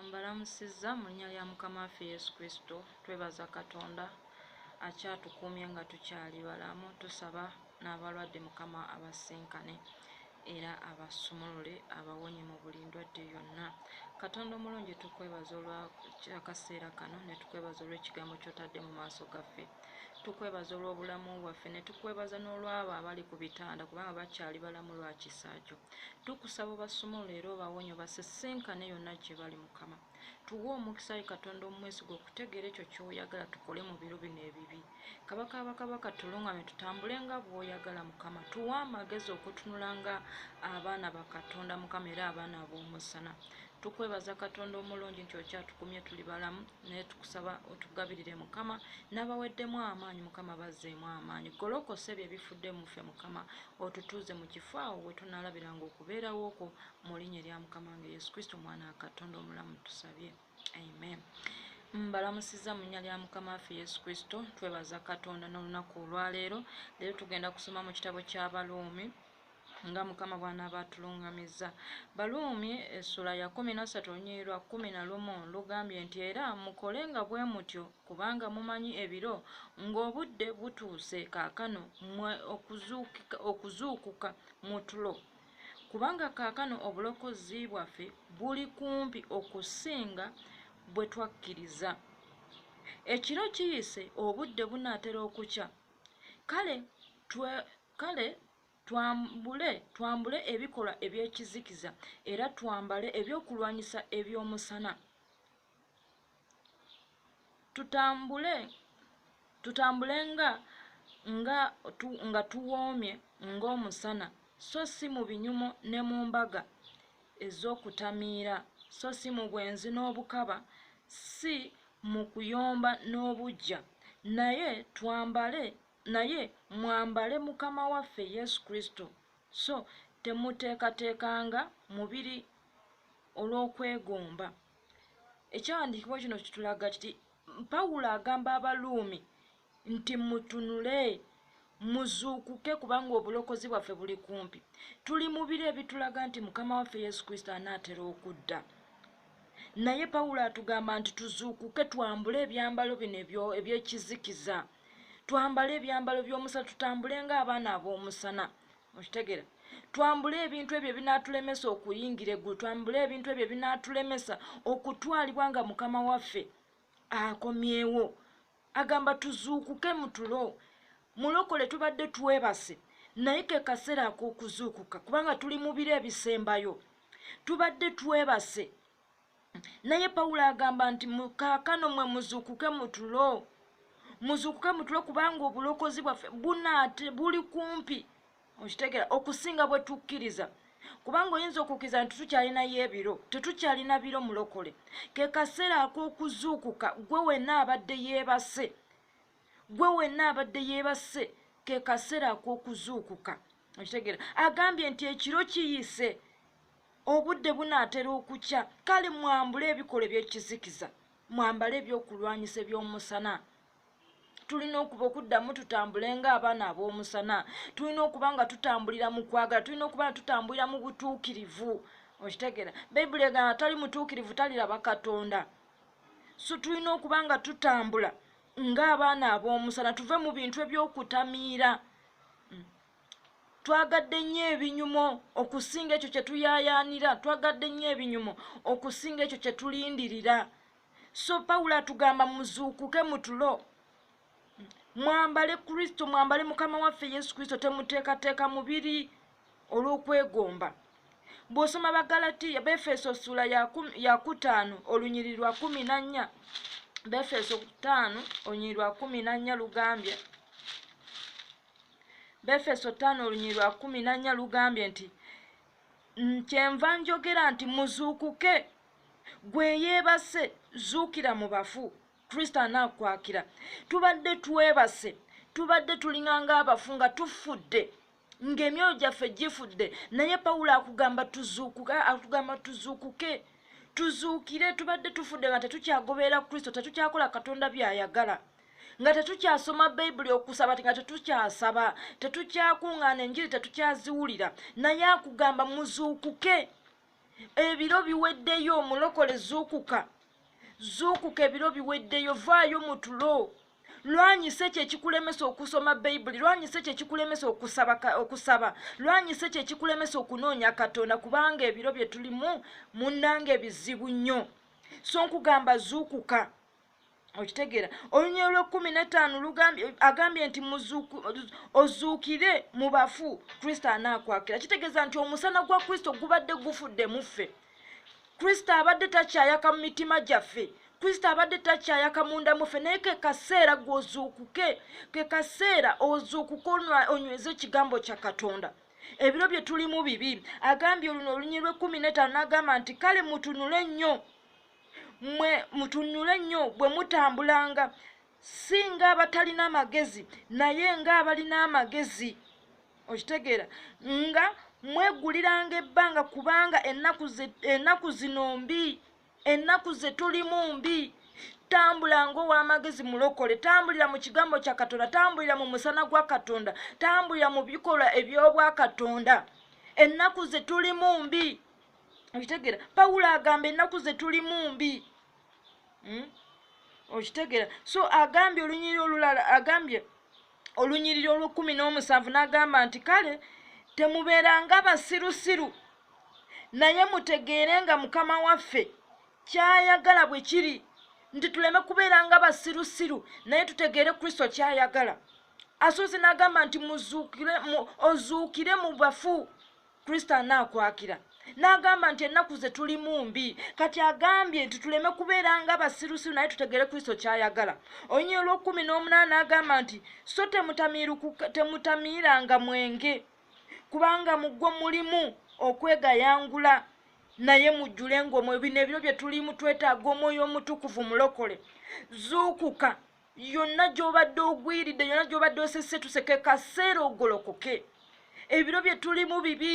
Mbalamusizza mu linnya lya Mukama waffe Yesu Kristo. Twebaza Katonda akyatukuumye nga tukyali balamu. Tusaba n'abalwadde Mukama abasisinkane era abasumulule abawonye mu buli ndwadde yonna. Katonda omulungi tukwebaza olwa akaseera kano ne tukwebaza olw'ekigambo ky'otadde mu maaso gaffe. Tukwebaza olw'obulamu bwaffe ne tukwebaza n'olw'abo abali ku bitanda kubanga bakyali balamu lwa kisa kyo. tukusaba obasumulule era obawonye obasisinkane yonna gye bali mukama tuwe omukisa yi katonda omumwesiga okutegeera ekyo kyoyagala tukole mu biro bino ebibi kabaka bakabaka tulungame tutambule nga bwoyagala mukama tuwe amagezi okutunula nga abaana bakatonda mukama era abaana b'omusana tukwebaza katonda omulungi nti okyatukumye tuli balamu naye tukusaba otugabirire mukama n'abaweddemu amaanyi mukama bazzeemu amaanyi golokose bye bifudde muffe mukama otutuuze mu kifo awo we tunaalabira nga okubeerawo okwo mu linnya erya mukama nga yesu kristo omwana wa katonda omulamu tusabye amen mbalamusiza mu nnya lya mukama waffe yesu kristo twebaza katonda n'olunaku olwaleero leero tugenda kusoma mu kitabo ky'abaluumi nga mukama bwanaaba atulungamizza baluumi essula ya kumi na ssatu olunyiri lwa kumi na lumu lugambye nti era mukole nga bwe mutyo kubanga mumanyi ebiro ng'obudde butuuse kaakano mwe okuzuukuka mu tulo kubanga kaakano obulokozi bwaffe buli kumpi okusinga bwe twakkiriza ekiro kiyise obudde bunaatera okukya kale Kale twambule, twambule ebikolwa eby'ekizikiza, era twambale eby'okulwanyisa eby'omusana. Tutambule, tutambule nga, nga, tu, nga tuwoomye ng'omusana, so si mu binyumo ne mu mbaga ez'okutamiira, so si mu bwenzi n'obukaba, si mu kuyomba n'obuggya, naye twambale Naye mwambale Mukama waffe Yesu Kristo, so temuteekateekanga mubiri olw'okwegomba. Ekyawandiikibwa kino kitulaga kiti Pawulo agamba Abaluumi nti mutunule muzuukuke kubanga obulokozi bwaffe buli kumpi tuli mubiri ebitulaga nti mukama waffe yesu kristo anaatera okudda naye pawulo atugamba nti tuzuukuke twambule ebyambalo bino ebyekizikiza twambale ebyambalo by'omusana tutambule ng'abaana ab'omusana okitegera twambule ebintu ebyo ebinaatulemesa okuyingira eggulu twambule ebintu ebyo ebinaatulemesa okutwalibwa nga mukama waffe akomyewo agamba tuzuukuke mutulo mulokole tubadde twebase naye ke kaseera ak'okuzuukuka kubanga tuli mu biro ebisembayo tubadde twebase naye pawulo agamba nti kaakano mwe muzuukuke mutulo muzuukuke mutulo kubanga obulokozi bwaffe bunaate buli kumpi okitegera okusinga bwe tukkiriza kubanga oyinza okukkiriza nti tukyalinayo ebiro tetukyalina biro mulokole ke kaseera ak'okuzuukuka gwe wenna abadde yeebase gwe wenna abadde yeebase ke kaseera ak'okuzuukuka okitegera agambye nti ekiro kiyise Obudde bunaatera okukya, kale mwambule ebikolwa eby'ekizikiza, mwambale ebyokulwanyisa eby'omusana. Tulina okuba okuddamu tutambule ng'abaana ab'omusana. Tulina okuba nga tutambulira mu kwagala, tulina okuba nga tutambulira mu butuukirivu. Okitegeera, Bayibuli egamba tali mutuukirivu taliraba Katonda. So tulina okuba nga tutambula ng'abaana ab'omusana, tuve mu bintu eby'okutamiira. twagadde nnyo ebinyumo okusinga ekyo kye tuyaayaanira twagadde nnyo ebinyumo okusinga ekyo kye tulindirira so pawulo atugamba muzuukuke mutulo mwambale kristo mwambale mukama waffe yesu kristo temuteekateeka mubiri olw'okwegomba bw'osoma bagalatiya befeso sula ya kutaano olunyiri lwa kumi na nnya befeso kutaano olunyiri lwa kumi na nnya lugambye befeso ttaano olunyiri lwa kumi nannya lugambye nti kyenva njogera nti muzuukuke gwe yeebase zuukira mu bafu kristo anaakwakira tubadde twebase tubadde tulinganga abafu nga tufudde ng'emyoyo gyaffe gifudde naye pawulo akugamba tuzuukuke atugamba tuzuukuke tuzuukire tubadde tufudde nga tetukyagoberera kristo tetukyakola katonda by'ayagala nga tetukyasoma bayibuli okusaba ti nga tetukyasaba tetukyakuŋŋaana enjiri tetukyaziwulira naye akugamba muzuukuke ebiro biweddeyo omulokole zuukuka zuukuka ebiro biweddeyo vaayo mu tulo lwanyisa ekyo ekikulemesa okusoma bayibuli lwanyisa ekyo ekikulemesa okusaba lwanyisa ekyo ekikulemesa okunoonya katonda kubanga ebiro bye tulimu munnanga ebizibu nnyo so nkugamba zuukuka okitegeera olunyiriri lwekkumi netaano agambye nti ozuukire mu bafu kristo anaakwakira kitegeeza nti omusana gwa kristo gubadde gufudde mu ffe kristo abadde takyayaka mu mitima gyaffe kristo abadde takyayaka munda muffe naye ke kaseera gwozuukuke ke kaseera ozuukuke onyweze ekigambo kya katonda ebiro bye tulimu bibi agambye oluno olunyiriri lwekkumi netaano n'agamba nti kale mutunule nnyo mwe mutunyule nnyo bwe mutambulanga si ng'abatalina magezi naye ng'abalina amagezi okitegeera nga mweguliranga ebbanga kubanga ennaku zino mbi ennaku ze tulimu mbi tambula ngaow'amagezi mulokole tambulira mu kigambo kya katonda tambulira mu musana gwa katonda tambulira mu bikolwa eby'obwakatonda ennaku ze tulimu mbi okitegera pawulo agamba ennaku ze tulimu mbi hmm? okitegera so agambye olunyiriri olulala agambye olunyiriri olwekumi n'omusanvu n'agamba nti kale temubeeranga basirusiru naye mutegeere nga mukama waffe kyayagala bwe kiri nti tuleme kubeera nga basirusiru naye tutegeere kristo kyayagala asuuzi n'agamba nti muzuukire ozuukire mu bafu kristo anaakwakira n'agamba nti ennaku ze tulimu mbi kati agambye nti tuleme kubeera nga basirusiru naye tutegere kristo ky'ayagala onyinyi olw'okkumi n'omunaana agamba nti so temutamiiranga mwenge kubanga mugwo mulimu okwegayangula naye mujjule ngaomwoyo bino ebiro bye tulimu twetaaga omwoyo omutukuvu mulokole zuukuka yonna gy'obadde ogwiridde yonna gy'obadde osese tuseke kaseera ogolokoke ebiro bye tulimu bibi